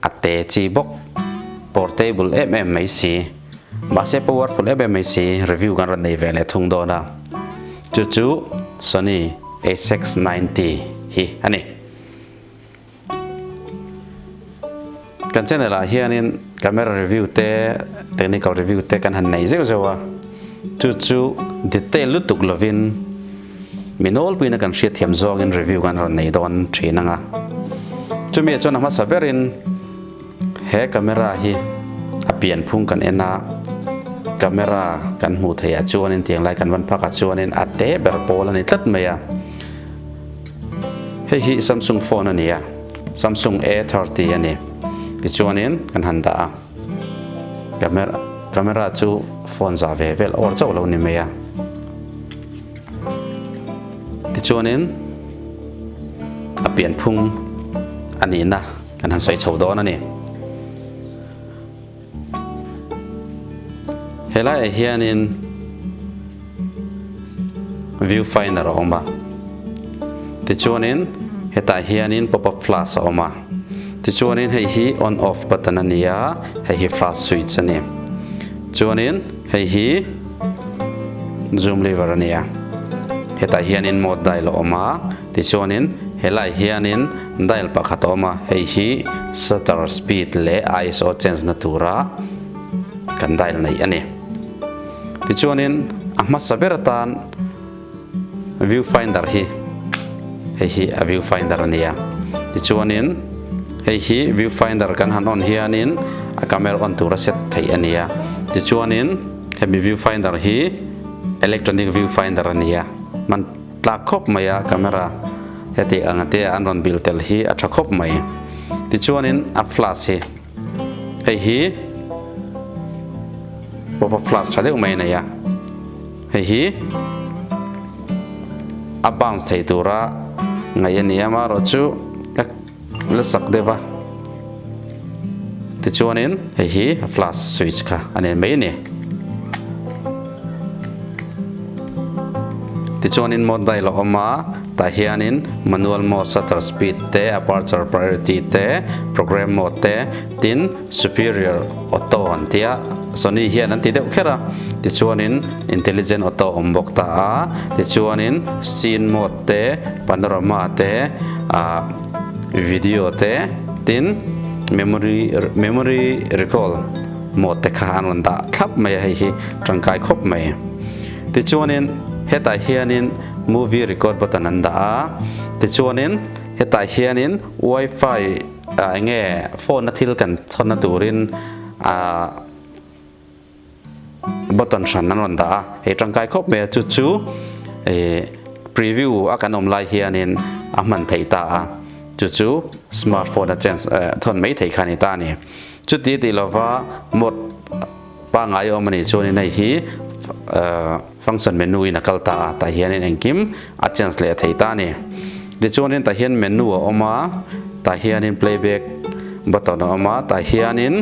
A te chi bawk. Portable em em mai si. Mahse powerful em em mai si. Review kan rawn nei ve leh thung dawn a. Chu chu Sony A-Sex ninety hi a ni. Kan channel ah hianin camera review te, technical review te kan han nei zeuh zeuh a. Chu chu detail lutuk lovin. Mi nawl puiin a kan hriat thiam zawngin review kan rawn nei dawn thin ang a. Chumi chuan a hmasa berin he camera hi a pianphung kan en a, camera kan hmuh theih ah chuanin tiang lai kan van phak ah chuanin a te ber pawl a ni tlat mai a. Hei hi Samsung phone a ni a, Samsung A thirty a ni. Tichuanin kan han dah a. Camera camera chu phone zah ve vel awr chauh lo ni mai a. Tichuanin a pian phung a nihna kan han sawi chho dawn a ni. He laiah hianin. View finder a awm a. Tichuanin hetah hianin pop up flash a awm a. Tichuanin hei hi on off button a ni a, hei hi flash switch a ni. Chuanin hei hi zoom lever a ni a. Hetah hianin mode dial a awm a. Tichuanin helaiah hianin dial pakhat a awm a, hei hi shutter speed leh iso change na tura kan dial neih a ni. Tichuanin a hmasa ber atan view finder hi hei hi a view finder a nia. Tichuanin hei hi view finder kan han on hianin a camera on tura set theih a nia. Tichuanin hemi view finder hi electronic view finder a nia. Man tlak khawp mai a camera hetiang te an rawn bilh tel hi a tha khawp mai. Tichuanin a flash hi. hei hi pop up flash tha deuh mai a nei a hei hi a bounce thei tura ngaih a nia amarawh chu a la sak deuh a tichuanin hei hi a flash switch kha a nen mai a ni. Tichuanin mode dial a awm a, tah hianin Manual mode, Shutter speed te, Aperture priority te, Program mode te, tin Superior auto han ti a, Sony hian an ti deuh kher a. Tichuanin Intelligent auto a awm bawk ta a, tichuanin Scene mode te, Panorama te, Video te, tin Memory Memory recall Mawhte kha an rawn dah thlap mai a hei hi tangkai khawp mai. Tichuanin hetah hianin movie record button an dah a, tichuanin hetah hianin wifi ah enge phone a thil kan chhawnna turin ah button hran an rawn dah a, hei tangkai khawp mai a, chu chu eh preview a kan awm lai hianin a hman theih ta a, chu chu smartphone a change eh thawn mai thei kha a ni ta a ni. Chuti tih lova mode pangai awm a nih chuan in hei hi function menu in a kal ta a, tah hian in engkim a change leh thei ta a ni. Tichuan in tah hian menu a awm a, tah hian in playback button a awm a, tah hian in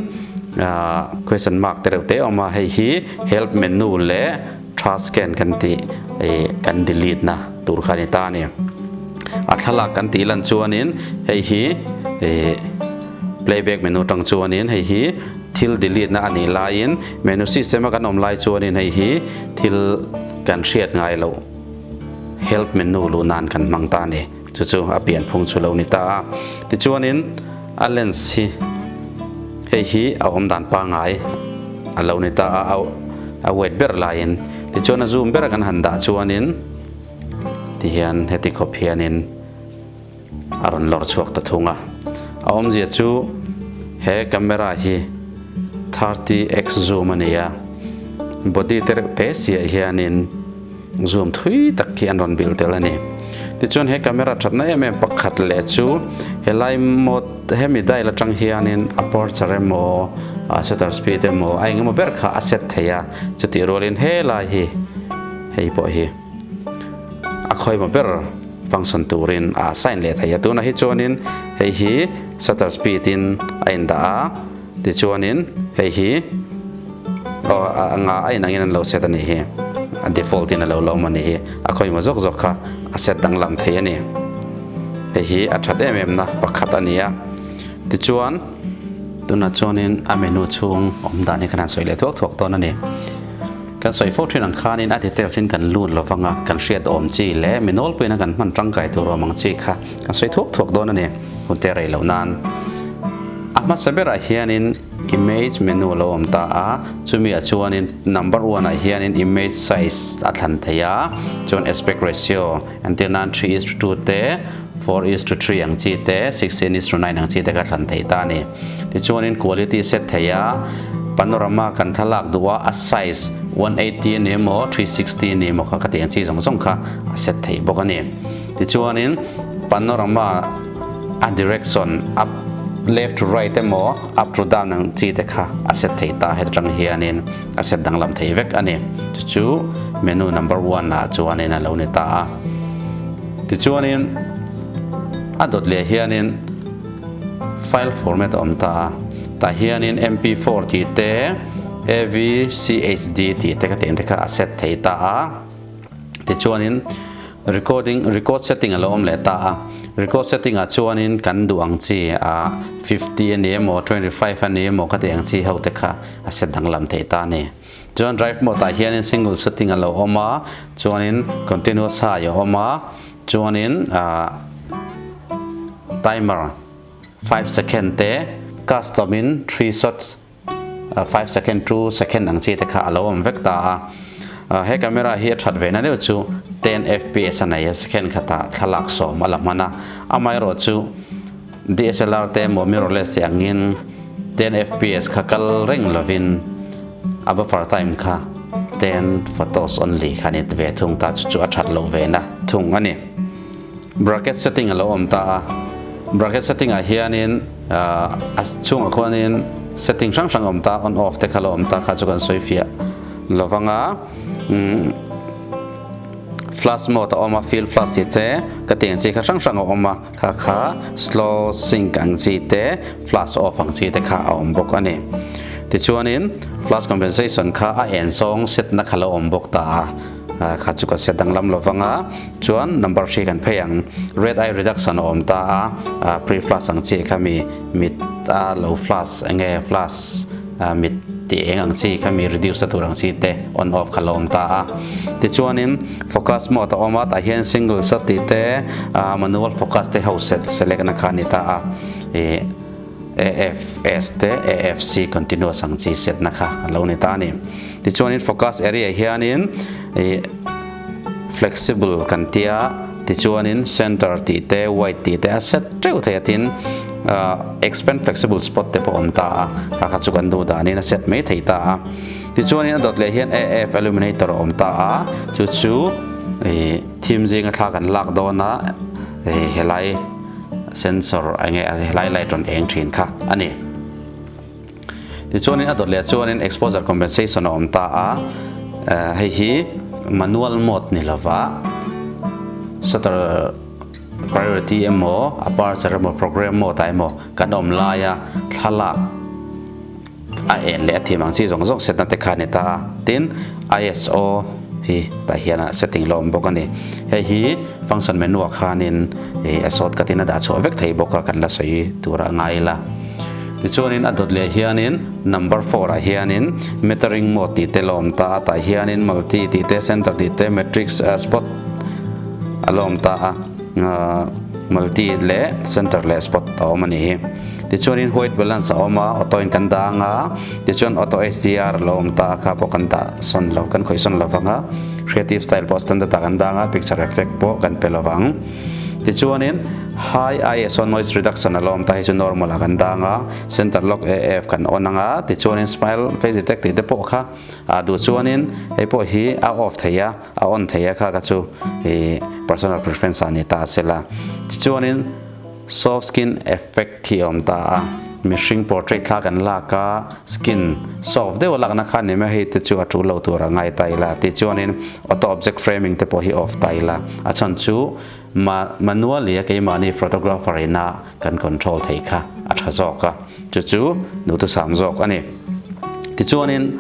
question mark te reuh te a awm a, hei hi help menu leh, Tha scan kan tih ih kan delete na tur kha ni ta a ni. A thlalak kan tih lan chuanin hei hi ih playback menu atang chuanin hei hi thil delete na a nih laiin menu system a kan awm lai chuanin hei hi thil kan hriat ngai loh help menu luh nan kan hmang ta a ni. Chu chu a pian phung chu lo ni ta a. Tichuanin a lens hi hei hi a awm dan pangai a lo ni ta a, a wet ber laiin. Tichuan a zoom ber kan han dah chuanin ti hian heti khawp hianin a rawn lawr chhuak ta thung a. A awmzia chu he camera hi thirty x zoom a ni a, body te reuh te siah hianin. Zoom thui tak khi an rawn bilh tel a ni. Tichuan he camera thatna em em pakhat leh chu helai mode hemi dial atang hianin aperture emaw shutter speed emaw a engemaw ber kha a set thei a, chutih rualin helai hi hei pawh hi a khawima ber function turin a assign leh thei a. Tunah hi chuanin hei hi shutter speed in a indah a. Tichuanin hei hi aw a nga a inangin an lo set a nih hi a default in a lo la awm a nih hi a khawima zawk zawk kha a set danglam thei a ni. Hei hi a that em em na pakhat a ni a tichuan. Tunah chuanin a menu chhung awm dan hi kan han sawi leh thuak thuak dawn a ni. Kan sawi fo thin ang khanin a details in kan lut lo vang a kan hriat awm chi leh mi nawl pawhin a kan hman tangkai tur awm ang chi kha a sawi thuak thuak dawn a ni. Hmute rei loh nan a hmasa berah hianin Image menu a lo awm ta a, chumiah chuanin Number one ah hianin Image size a thlan thei a, chuan Aspect ratio entir nan three is to two te, four is to three ang chi te, sixteen is to nine ang chi te ka thlan thei ta a ni. Tichuanin Quality a set thei a, Panorama kan thlalak duh a, a size one eighty a ni maw, three sixty a ni maw kha ka ti ang chi zawng zawng kha a set thei bawk a ni. Tichuanin panorama a direction a left to right emaw up to down ang chi te kha a set thei ta heta tang hianin a set danglam thei vek a ni. Chu chu menu number one lah chuanin a lo ni ta a. Tichuanin a dawt leh hianin file format a awm ta a. Tah hianin MP four tih te, AVCHD tih te ka tih ang te kha a set thei ta a. Tichuanin recording record setting a lo awm leh ta a, record setting ah chuanin kan duh ang chi a fifty a ni emaw twenty five a ni emaw ka tih ang chi ho te kha a set danglam theih ta a ni. Chuan drive mode ah hianin single setting a lo awm a, chuanin continuous high a awm a, chuanin timer five second te custom in three shots, Five second two second ang chi te kha a lo awm vek ta a. He camera hi a that ve na deuh chu ten fps a nei a, second khatah thlalak sawm a la hman a. Amaherawh chu DSLR te emaw mirrorless te angin ten fps kha kal reng lovin a buffer time kha ten photos only kha a ni ve thung ta, chu chu a that loh ve na thung a ni. Bracket setting a lo awm ta a, bracket setting ah hianin a chhungah khuanin setting hrang hrang a awm ta a, on off te kha a lo awm ta kha chu kan sawi fiah lo vang a, flash mode a awm a fill flash chi che ka ti ang chi kha hrang hrang a awm a, kha kha slow sync ang chi te flash off ang chi te kha a awm bawk a ni. Tichuanin flash compensation kha a en sawng set na kha a lo awm bawk ta a. Kha chu kan set danglam lo vang a, chuan number hri kan phei ang. Red eye reduction a awm ta a, pre flush ang chi kha mi, mit a lo flush enge flush mit ti eng ang chi kha mi reduce a tur ang chi te on off kha lo awm ta a. Tichuanin focus mode a awm a, tah hian singles a tih te manual focus te ho select na kha a ni ta a. AFS te AFC Continuous ang chi setna kha an lo ni ta a ni. Tichuanin Focus Area hianin Flexible kan tia, tichuanin Centre tih te, Wide tih te a set teuh thei atin Expand Flexible Spot te pawh awm ta a, a kha chu kan duh danin a set mai thei ta a. Tichuanin a dawt leh hian AF Illuminator a awm ta a, chu chu theme zinga thla kan lak dawn a, helai. Sensor enge helai light rawn eng thin kha a ni. Tichuanin a dawt leh chuanin exposure compensation a awm ta a, hei hi manual mode ni lova shutter priority emaw aperture emaw program mode ah emaw kan awm laia thlalak, A en leh a thim ang chi zawng zawng setna te khan ni ta a. Tin, ISO hi tah hian a setting la awm bawk a ni. Hei hi function menu ah khanin ih a short cut in a dah chhuah vek thei bawk a, kan la sawi tura a ngai ila. Tichuanin a dawt leh hianin number four ah hianin metering mode tih te la awm ta a, tah hianin multi tih te, center tih te, matrix, spot a la awm ta a. Multi leh Center leh Spot a awm a ni. Tichuan in White Balance a awm a, Auto in kan dang a, tichuan Auto HDR lo awm ta a kha pawh kan dah sawn lo, kan khawih sawn lo vang a. Creative Style pawh Standard ah kan dang a, Picture Effect pawh kan pe lo vang. Tichuan in High ISO Noise Reduction a lo awm ta, hei chu Normal ah kan dang a, Center Lock AF kan on ang a, tichuan in Smile Face Detect tih te pawh kha ah duh chuan in hei pawh hi a off thei a. A on thei a kha ka chu ih personal preference ah a ni ta a sela. Tichuanin soft skin effect hi a awm ta a. Mihring portrait thla kan lak a skin soft deuh a lakna kha ni maw hei te chu a tul lo tur a ngai ta ila. Tichuanin auto object framing te pawh hi off ta ila. A chhan chu. Mah Manualia keimahni photographer ina kan control thei kha a tha zawk a, chu chu duhtusam zawk a ni. Tichuanin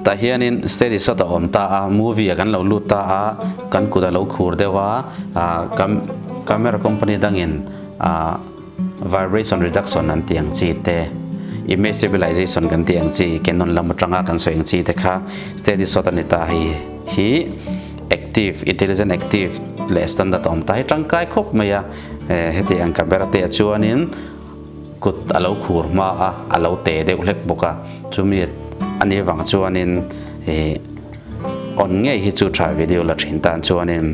tah hianin steady shot a awm ta a, movie a kan lo lut ta a, kan kut a lo khur deuh a, camera company dangin. Vibration reduction an tih ang chi te, image stabilization kan tih ang chi, Canon lam atanga kan sawi ang chi te kha steady shot a ni ta hei hi active, intelligent active leh standard a awm ta hi tangkai khawp mai a, heti ang camera te ah chuanin kut a lo khur hma a, a lo te deuh hlek bawk a, chumi a nih avang chuanin ih. On ngei hi chu tha video la thin tan chuanin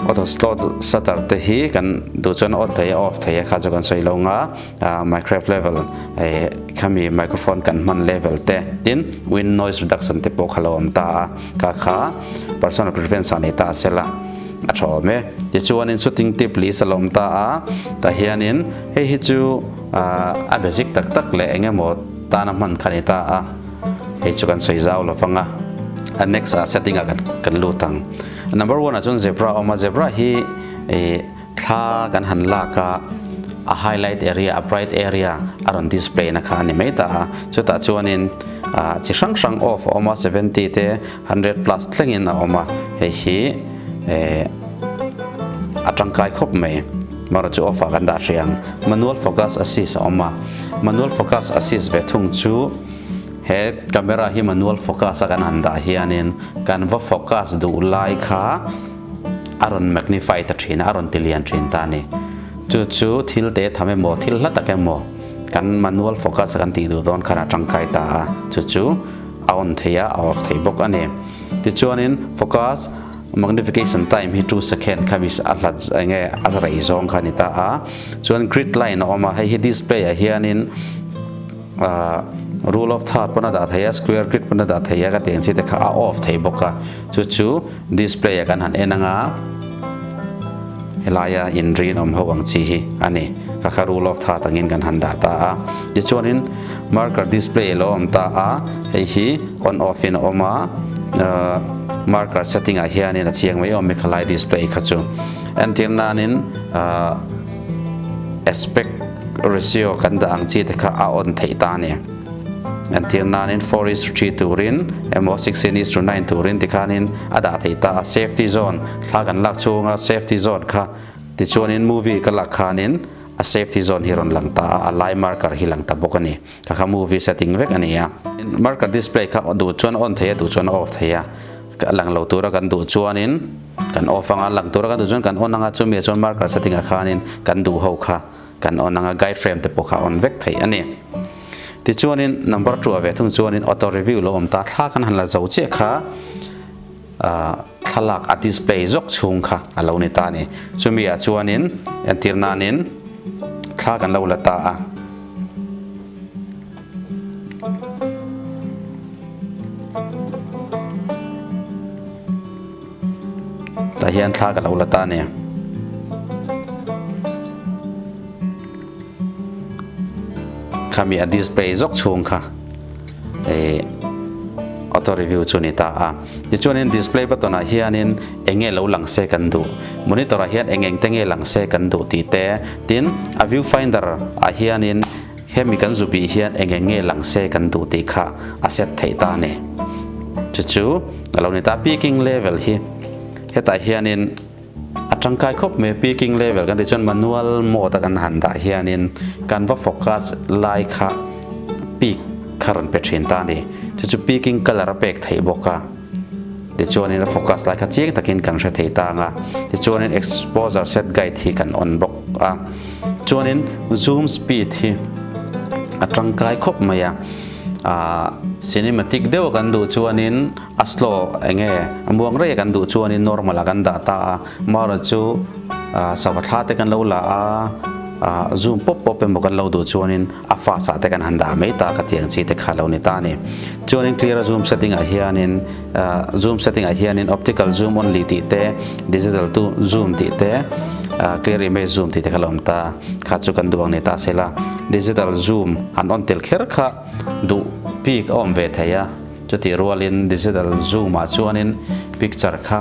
auto slot shutter te hi kan duh chuan on thei a off thei a kha chu kan sawi lo nga ah microwave level eh khami microphone kan hman level te tin wind noise reduction te pawh kha lo awm ta a ka kha personal preference ah a nei ta a sela a tha awm e tichuanin shooting tip list a la awm ta a tah hianin hei hi chu ah a basic tak tak leh eng emaw tana hman kha a ni ta a. hei chu kan sawi zau lo vang a a next ah setting ah kan lut ang number one ah chuan zebra a awm a zebra hi ih thla kan han lak a a highlight area a bright area a rawn display na kha a ni mai ta a chutah chuan in ah chi hrang hrang off a awm a seventy te-- Hundred plus thlengin a awm a, hei hi ehh a tangkai khawp mai, mahruh chu off ah kan dah hria ang. Manual focus assist a awm a, manual focus assist ve thung chu he camera hi manual focus a kan han dah hianin kan va focus duh lai kha a rawn magnify ta thin a, a rawn ti lian thin ta a ni. Chu chu thil te tham emaw, thil hla tak emaw kan manual focus a kan tih duh dawn khan a tangkai ta a, chu chu. A on thei a, a awk thei bawk a ni. Tichuanin focus, magnification time hi two second kha mis a hlat eng nge a rei zawng kha a ni ta a. Chuan grid line a awm a, hei hi display ah hianin rule of third pawn a dah thei a, square grid pawn a dah thei a, ka tiang chi te kha a off thei bawk a. Chu chu. Display-a kan han en anga helaia in rinawm ho ang chi hi a ni. Ka kha rule of that angin kan han dah ta a. Tichuanin marker display alo awm ta a, hei hi on off in a awm a, marker setting ah hianin a chiang mai awm e khalai display kha chu. Entir nanin aspect ratio kan dah ang chi te kha a on theih ta a ni. Kan tir nanin four is to three turin emaw sixteen is to nine turin tikhanin a dah thei ta a, safety zone thla kan lak chhung a safety zone kha tichuanin movie ka lak khanin a safety zone hi rawn lang ta a, a lai marker hi lang ta bawk a ni. Ka kha movie setting vek a ni a. Marker display kha duh chuan a on thei a duh chuan a off thei a, a lang lo tura kan duh chuanin kan off anga a lang tura kan duh chuan kan on anga chumi ah chuan marker setting ah khanin kan duh ho kha. Kan on anga guide frame te pawh kha on vek theih a ni. Tichuanin number ṭuah ve thung chuanin auto review lo awm ta, thla kan han la zo chiah kha thlalak a display zawk chhung kha a lo ni ta a ni. Chumi ah chuanin entir nanin thla kan lo la ta a. Tah hian thla ka lo la ta nia. Khami a display zok chhung kha eh auto review chu ni ta a ti chuan in display button ah hian in enge lo lang se kan duh monitor ah hian eng eng te nge lang se kan duh tih te tin a view finder ah hian in Hemi kan zu bih hian eng eng nge lang se kan duh tih kha a set theih ta ni. Chu chu a lo ni ta peaking level hi hetah hianin a tangkai khawp mai a peaking level kan tih chuan manual mode a kan han dah hianin kan va focus lai kha peak kha rawn pe thin ta ni. Chu chu peaking color a pek theih bawk a. Tichuanin a focus lai kha chiang takin kan hre thei ta ang a, tichuanin exposure set guide hi kan on bawk a, chuanin zoom speed hi a tangkai khawp mai a, aah cinematic deuh a kan duh chuanin a slow eng nge a muang rei a kan duh chuanin normal a kan dah ta a, mahra chu sava thla te kan lo la a, aah zoom pawp pawp emaw kan lo duh chuanin A fast ah te kan han dah mai ta ka ti ang chi te kha lo ni ta ni. Chuanin clear a zoom setting ah hianin zoom setting ah hianin optical zoom only tih te digital tu zoom tih te clear image zoom tih te kha lo awm ta kha chu kan duh ang ni ta se la digital zoom han on tel kher kha duh bik a awm ve thei a. Chutih rualin digital zoom ah chuanin picture kha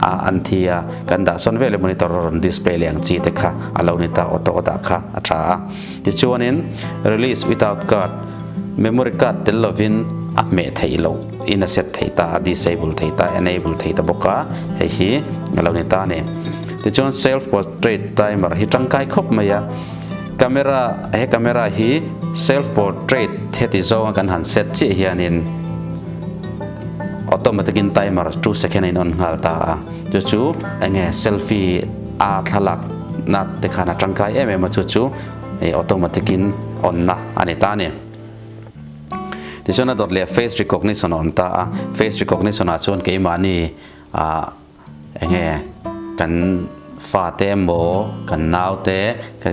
A an thi a, kan dah sawn veleh monitor a rawn display leh ang chi te kha a lo ni ta auto a dah kha a tha a. Tichuan in release without guard memory card tel lo in a hmeh theih lo in a set theih ta a disable theih ta a enable theih ta bawk a hei hi a lo ni ta a ni. Tichuan self portrait timer hi tangkai khawp mai a camera he camera hi self portrait heti zawnga kan han set chiah hian in, Automatic in timer two second a in on nghal ta a, chu chu enge selfie a thlalak na te khan a tangkai em em a chu chu ih automatic in on na a ni ta ni. Tichuan a dawt leh face recognition a awm ta a, face recognition ah chuan keimahni ah, Eng nge kan fate emaw kan naute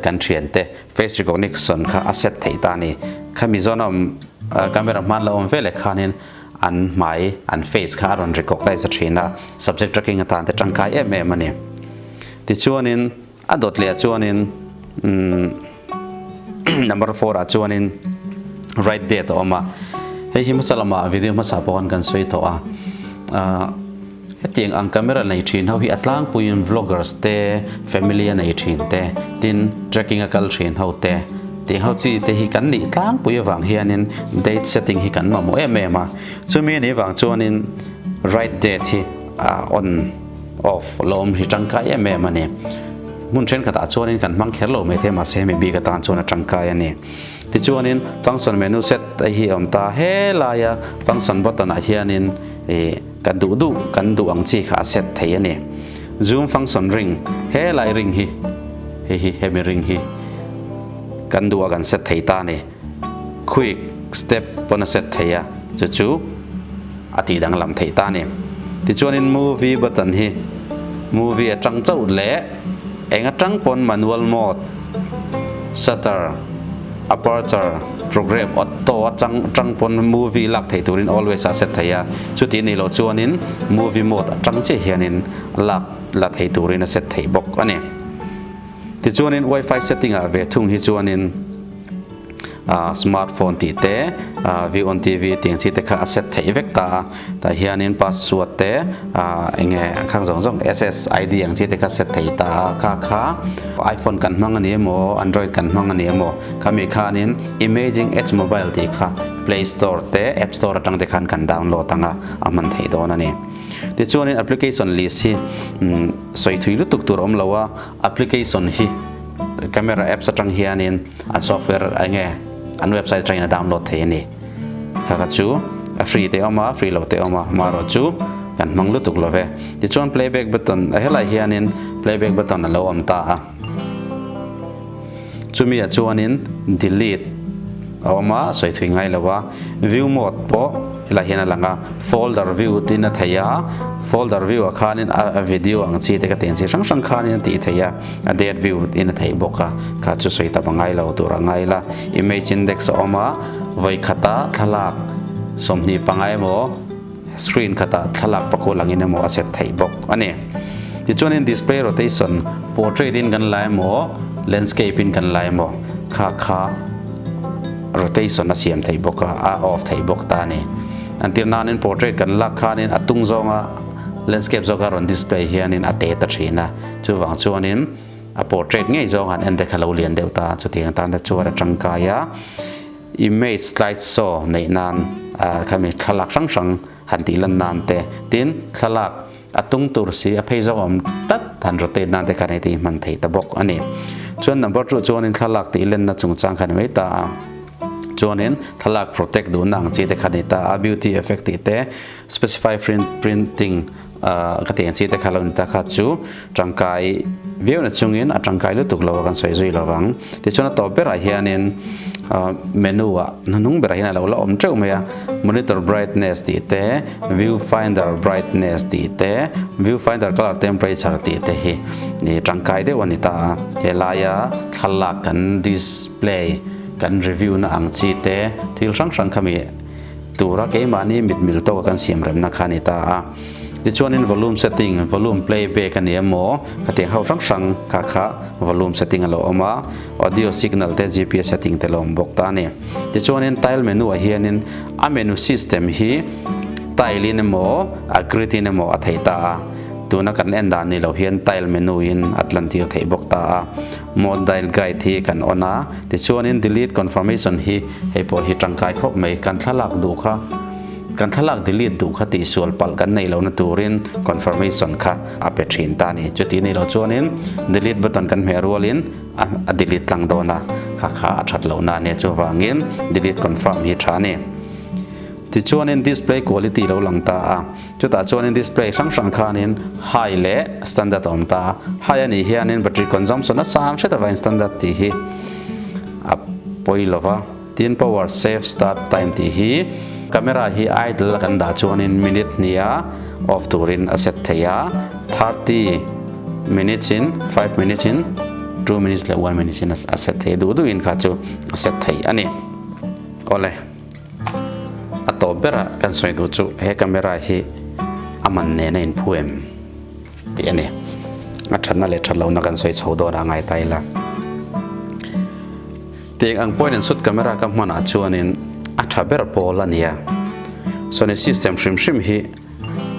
kan thiante face recognition kha a set theih ta a ni. Kha Mizo na awm camera hman la awm ve leh khan in an hmai an face kha a rawn recognize a thin a subject tracking atante tangkai em em a ni. Tichuan in. A dawt leh ah chuanin umm number four ah chuanin right date a awm a hei hi hmasa lamah video hmasa pawh khan kan sawi tawh a ah hetiang ang camera nei thin ho hi a tlangpuiin vloggers te family a nei thin te tin tracking a kal thin ho te tih ho chi te hi kan nih tlangpui avang hianin date setting hi kan mamawh em em a chumi ni vang chuanin right date hi a on. Off lawm hi tangkai em em a ni. Hmun thenkhatah chuanin kan hmang kher lo mai thei mahse hemi bik atan chuan a tangkai a ni. Tichuanin function menu set te hi a awm ta helaia function button ah hianin ih ka duh duh kan duh ang chi kha a set thei a ni. Zoom function ring helai ring hi heihi hemi ring hi kan duh a kan set thei ta a ni. Quick step pawn a set thei a, chu chu a tih danglam theih ta nen. Tichuanin movie button hi movie atang chauh leh eng atang pawn manual mode, shutter, aperture, progrep, auto atang atang pawn movie lak thei turin always a set thei a, chutih neih loh chuanin movie mode atang chiah hianin lak la thei turin a set thei bawk a ni. Tichuanin wifi setting ah ve thung hi chuanin. ah smart phone tih te ah view on TV tih ang chi te kha a set theih vek ta a tah hian in password te ah eng nge khang zawng zawng SSID ang chi te kha set thei ta a kha kha iphone kan hmang a ni emaw android kan hmang a ni emaw khami khan in amazing apps mobile tih kha play store te app store atang te khan kan download ang a a hman thei dawn a ni tichuan in application list hi umm sawi thui lutuk tur awm lo a. Application hi camera apps atang hianin an software eng nge an website atangin a download thei a ni. Khaka chu a free te a awm a, free lo te a awm a, amaherawh chu kan hmang lutuk lo ve. Tichuan playback button, a helaiah hianin playback button a lo awm ta a. Chumi ah chuanin delete a awm a, sawi thui ngai lo a. View mode pawh helai hian a lang a, folder view tiin a thei a, folder view ah khanin a video ang chi te ka ti ang chi hrang hrang khanin a tih theih a, a date view tiin a thei bawk a, kha chu sawi ta pa ngai lo tur anga ila. Image index a awm a, vawikhat a thlalak sawmhnih panga emaw. Screen khatah thlalak pakua langin emaw a set theih bawk a ni. Tichuanin Display Rotation, Portrait in kan la emaw, Landscape in kan la emaw kha kha Rotation a siam theih bawk a, a off theih bawk ta a ni. An tir nain Portrait kan lak khanin a tung zawnga Landscape zawk a rawn Display hianin a te ta thin a. Chuvang chuanin a Portrait ngei zawng han en te kha lo lian deuh ta, chutiang tana chuan a tangkai a. Image slide show neih nan a khami thlalak hrang hrang han tih lan nan te tin thlalak a tung tur si a phei zawk awm tlat han rotate nan te khan hei te hi hman thei ta bawk a ni. Chuan number two chuanin thlalak tih len na chung chang kha ni mai ta a chuanin thlalak protect duh na ang chi te kha ni ta a beauty effect tih te specify printing Ahh ka tih ang chi te kha lo ni ta kha chu tangkai viau na chungin a tangkai lutuk lo a kan sawi zui lo vang tichuan a tawp ber ah hianin ahh menu ah hnuhnung ber ah hian a lo la awm teuh mai a monitor brightness tih te view finder brightness tih te view finder colour temperature tih te hi ih tangkai deuh a ni ta a he laia thlalak kan display kan review na ang chi te thil hrang hrang kha mi Tura keimahni mitmil tawka kan siamremna kha a ni ta a. Tichuanin volume setting, volume playback a nia maw, ka tiang ho hrang hrang kha kha volume setting a lo awm a, audio signal te GPS setting te lo awm bawk ta a ni. Tichuanin tile menu ah hianin a menu system hi tile in emaw a grid in emaw a thei ta a, tuna kan en dan ni lo hian tile menu in a tlan tir theih bawk ta a. Mode Dial Guide hi kan on a, tichuanin Delete Confirmation hi hei pawh hi tangkai khawp mai. Kan thlalak duh kha, kan thlalak delete duh kha tihsual palh kan neih lohna turin Confirmation kha a pe thin ta a ni. Chutih neih loh chuanin Delete button kan hmeh rualin a delete tlang dawn a, kha kha a that lohna a nia. Chuvangin Delete Confirm hi a tha a ni. Tichuanin Display Quality lo lang ta a. Chutah chuanin display hrang hrang khanin High leh Standard a awm ta a. High a nih hianin battery consumption a sang hret avangin Standard tih hi a pawi lo va. Tin, Power Save Start Time tih hi camera hi idle a kan dah chuanin minute hnih a off turin a set thei a, thirty minutes in, five minutes in, two minutes leh one minutes in a set thei a, duh duhin kha chu a set thei a ni. Awle. a tawp ber a kan sawi duh chu he camera hi a man nen a in phu em tih a ni a thatna leh that lohna kan sawi chho dawn a ngai ta ila tiang ang point in sut camera ka hman ah chuan in a tha ber pawl a nia sony system hrim hrim hi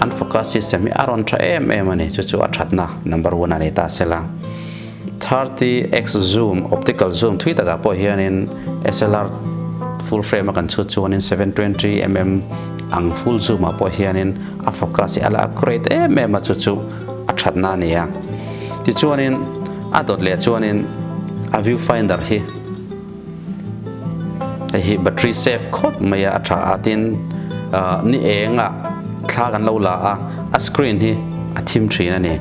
An focus system hi a rawn tha em em a ni, chu chu a thatna number one a ni ta se la. Thirty x zoom, optical zoom thui takah pawh hianin slr full frame a kan chhut chuanin seven twenty mm ang full zoom ah pawh hianin a focus hi a la accurate em em a chu chu a thatna a ni a. Tichuanin a dawt leh chuanin a viewfinder hi, Hei hi battery safe khawp mai a, a tha a tin ni engah thla kan lo la a, a screen hi a thim thin a ni,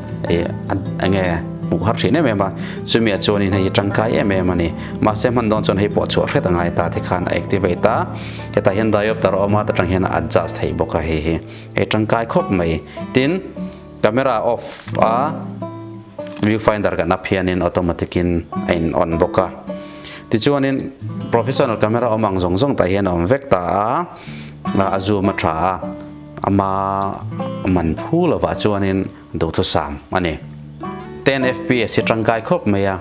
enge hmuh har thin em em a, chumi ah chuan in hei hi tangkai em em a ni, mahse hman dawn chuan hei pawh chhuah hret a ngai ta te khan a activate a, hetah hian diopter a awm a ta tang hian a adjust theih bawk a hei hi, hei tangkai khawp mai tin, Camera off a, view finder kan up hian in automatic in a in on bawk a. Tichuan in professional camera awm ang zawng zawng tah hian a awm vek ta a, a zoom a tha a, a hma man phu lovah chuan in duhthusam a ni. Ten fps hi tangkai khawp mai a.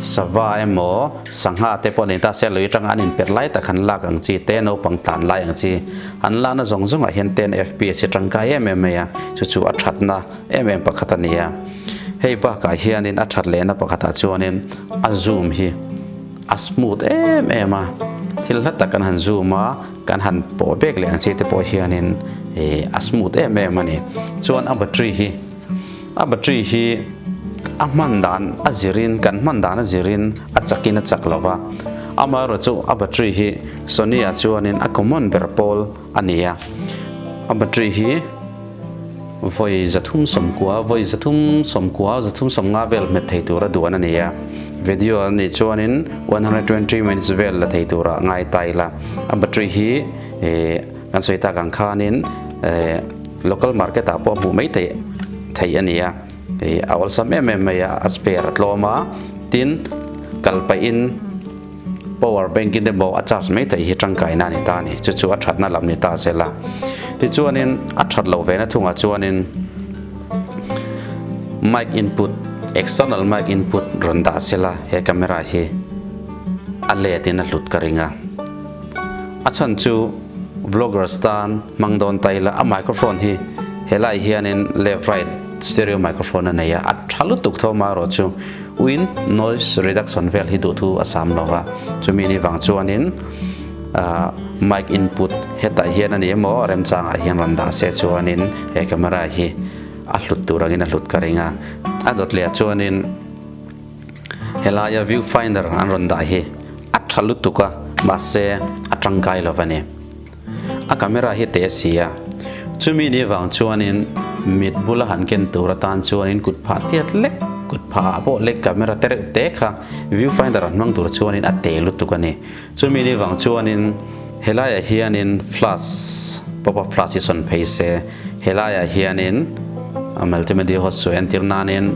Sava emaw sangha te pawh nen ta se lui atanga an inper lai tak han lak ang chi te naupang tlan lai ang chi an lakna zawng zawng ah hian ten fps hi tangkai em em mai a chu chu a thatna em em pakhat a ni a hei bakah hian in a that leh na pakhat ah chuan in a zoom hi a smooth em em a thil hla tak kan han zoom a kan han pawh bek leh ang chi te pawh hian in a smooth em em a ni chuan a battery hi A battery hi a hman dan a zir in kan hman dan a zir in a chak in a chak lo va. Amah erawh chu a battery hi Sony ah chuan in a common ber pawl a ni a. A battery hi vawi za thum sawm kua, vawi za thum sawm kua, za thum sawm nga vel hmet thei tur a duan a ni a. Video ah nih chuan in one hundred twenty minutes vel la thei tur a ngai ta ila. A battery hi eh. Kan sawi tak ang khanin local market ah pawh hmuh maithei theih a nia. Hei a awlsam em em maia a spare a tlawm a, tin kal pahin power bank in emaw a charge maithei hi tangkaina a ni ta a ni. Chu chu a thatna lam ni ta zel a. Tichuanin a that lo vena thungah chuanin mic input, external mic input rawn dah sela he camera hi a let in a hlut ka ring a. A chhan chu vloggers tan hmang dawn ta ila a microphone hi helai hianin left right stereo microphone a nei a, a tha lutuk thawma erawh chu uiin noise reduction vel hi duh thu a sam lo va, chumi ni vang chuanin mic input hetah hian a ni emaw a remchangah hian rawn dah se chuanin he camera hi a hlut tur angin a hlut ka ring a. A dawt leh ah chuanin. Helaia viewfinder an rawn dah hi a tha lutuk a, mahse a tangkai lo va ni. A camera hi teh a si a, chumi ni vang chuanin mit bula han ken tur atan chuanin kut phah tiat lek, kut phah ah pawh leh camera te reuh te kha viewfinder an hmang tur chuanin a teh lutuk a ni. Chumi ni vang chuanin he laiah hianin flash, pop up flash hi sawn phei se. He laiah hianin multimedia host chu entir nanin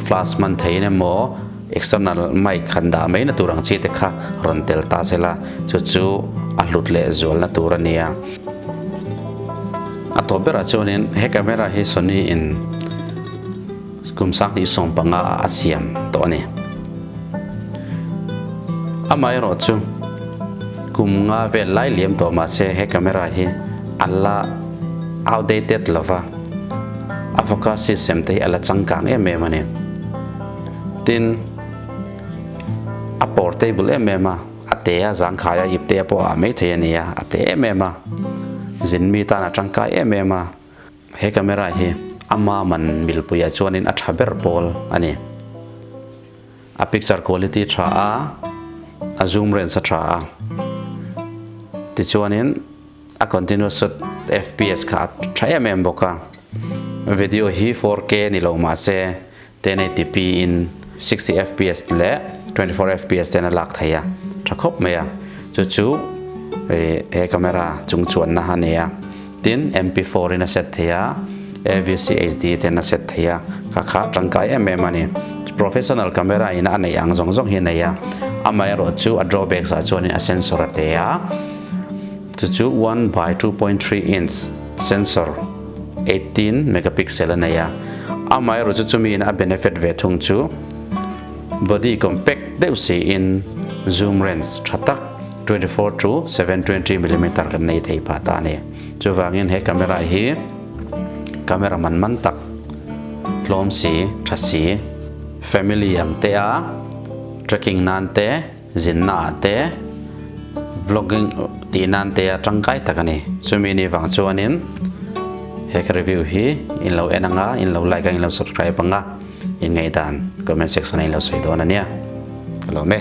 flash hman theiin emaw external mic han dah mai na tur ang chi te kha rawn tel ta se la, chu chu a hlut leh zual na tur a nia. A tawp berah chuanin he camera hi Sony in. Kum sanghnih sawm panga a siam tawh a ni. Amaherawh chu kum nga vel lai liam tawh mah se he camera hi a la outdated lo va, a focus system te hi a la changkang em em a ni. Tin, a portable em em a, a te a zangkhai a ipte a pawh a ah maithei a nia, a te em em a, zin mi tan a tangkai em em a. He camera hi a mama'n milpuiah chuanin a tha ber pawl a ni. A picture quality tha a, a zoom range a tha a, tichuanin a continuous shot fps kha a tha em em bawk a. Video hi four k ni lo mahse 1080p in sixty fps leh twenty four fps ten a lak thei a tha khawp mai a chu chu he camera chung chuan na a nei a tin MP four in a set thei a AVC HD ten a set thei a kha kha tangkai em em a ni professional camera in a nei ang zawng zawng hi a nei a amah erawh chu a drawbacks ah chuan a sensor a te a. Chu chu one by two point three inch sensor eighteen megapixel a nei a, amah erawh chu chumiin a benefit ve thung chu body compact deuh siin zoom range tha tak twenty four to seven twenty millimeter kan nei thei pah ta a ni. Chuvangin he camera hi camera man man tak hlawm si tha si, family ang te a tracking nan te, Zinna ah te, vlogging tih nan te a tangkai tak a ni. Chumi ni vang chuanin he ka review hi in lo en ang a, in lo like a, in lo subscribe ang a, inngaidan comment section ah in lo sawi dawn a nia. Ka lawm e.